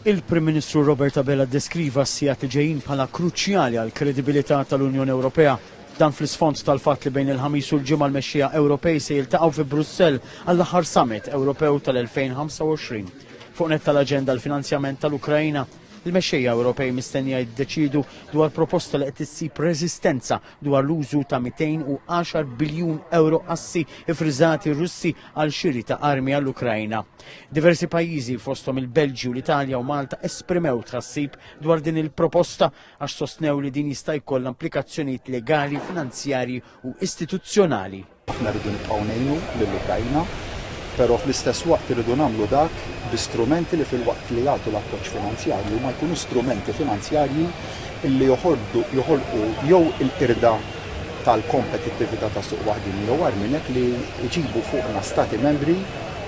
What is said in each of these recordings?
Il-Prim Ministru Robert Abela ddeskriva s-sigħat li ġejjin bħala kruċjali għall-kredibilità tal-Unjoni Ewropea. Dan fl-isfond tal-fatt li bejn il-Ħamis u l-Ġimgħa l-mexxejja Ewropej se jiltaqgħu fi Brussell għall-aħħar Summit Ewropew tal-2025. Fuq nett tal-aġenda l-finanzjament tal-Ukraina. Il-mexxejja Ewropej mistennija jiddeċiedu dwar proposta li qed issib reżistenza dwar l-użu ta' 210 biljun ewro assi iffriżati Russi għal xiri ta' armi għall-Ukrajna. Diversi pajjiżi fosthom il-Belġju, l-Italja u Malta esprimew tħassib dwar din il-proposta għax sostnew li din jista' jkollha implikazzjonijiet legali, finanzjarji u istituzzjonali. Aħna rridu nibqgħu ngħinu lill-Ukrajna, però fl-istess waqt irridu nagħmlu dak bi strumenti li filwaqt li jagħtu l-appoġġ finanzjarju ma jkunu strumenti finanzjarji li joħolqu jew il-qirda tal-kompetittività tas-suq waħdieni jew agħar minn hekk li jġibu fuqna Stati Membri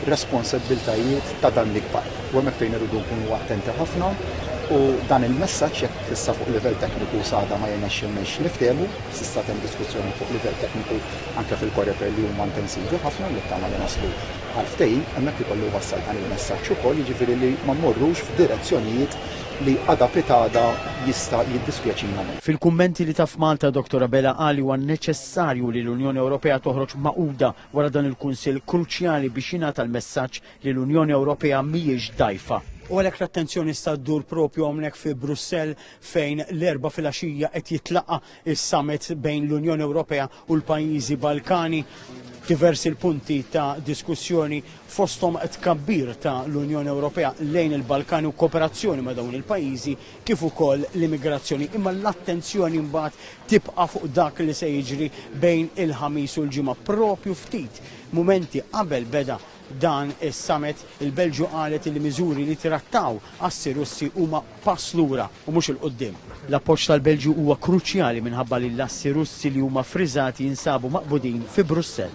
responsabbiltajiet ta' dan l-ikbar. U hemmhekk fejn irridu nkunu attenti ħafna u dan il-messaġġ, jekk issa fuq livell tekniku s'għada ma jirnexxilniex niftehmu, s'issa temm diskussjoni fuq livell tekniku anke fil-Coreper li huma intensivi ħafna u nittama li naslu għal ftehim, hemmhekk ikollu jwassal dan il-messaġġ ukoll, jiġifieri li ma mmorrux f'direzzjonijiet li għada pitgħada jista' jiddispjaċina. Fil-kummenti li ta f'Malta, Dottor Abela qal li huwa neċessarju li l-Unjoni Ewropea toħroġ magħquda wara dan il-Kunsill kruċjali biex jingħata l-messaġġ li l-Unjoni Ewropea mhijiex dgħajfa. U għalhekk l-attenzjoni issa ddur propju hawnhekk fi Brussell fejn l-Erbgħa filgħaxija qed jitlaqa' s-summit bejn l-Unjoni Ewropea u l-pajjiżi Balkani diversi l-punti ta' diskussjoni fosthom tkabbir ta' l-Unjoni Ewropea lejn il-Balkani u kooperazzjoni ma' dawn il-pajjiżi kif ukoll l-immigrazzjoni imma l-attenzjoni mbagħad tibqa' fuq dak li se jiġri bejn il-Ħamis u l-Ġimgħa propju ftit mumenti qabel beda dan is-summit, il-Belġju qalet li miżuri li trattaw assi Russi huma pass lura u mhux 'il quddiem. L-appoġġ tal-Belġju huwa kruċjali minħabba li l-assi Russi li huma ffriżati jinsabu maqbudin fi Brussell.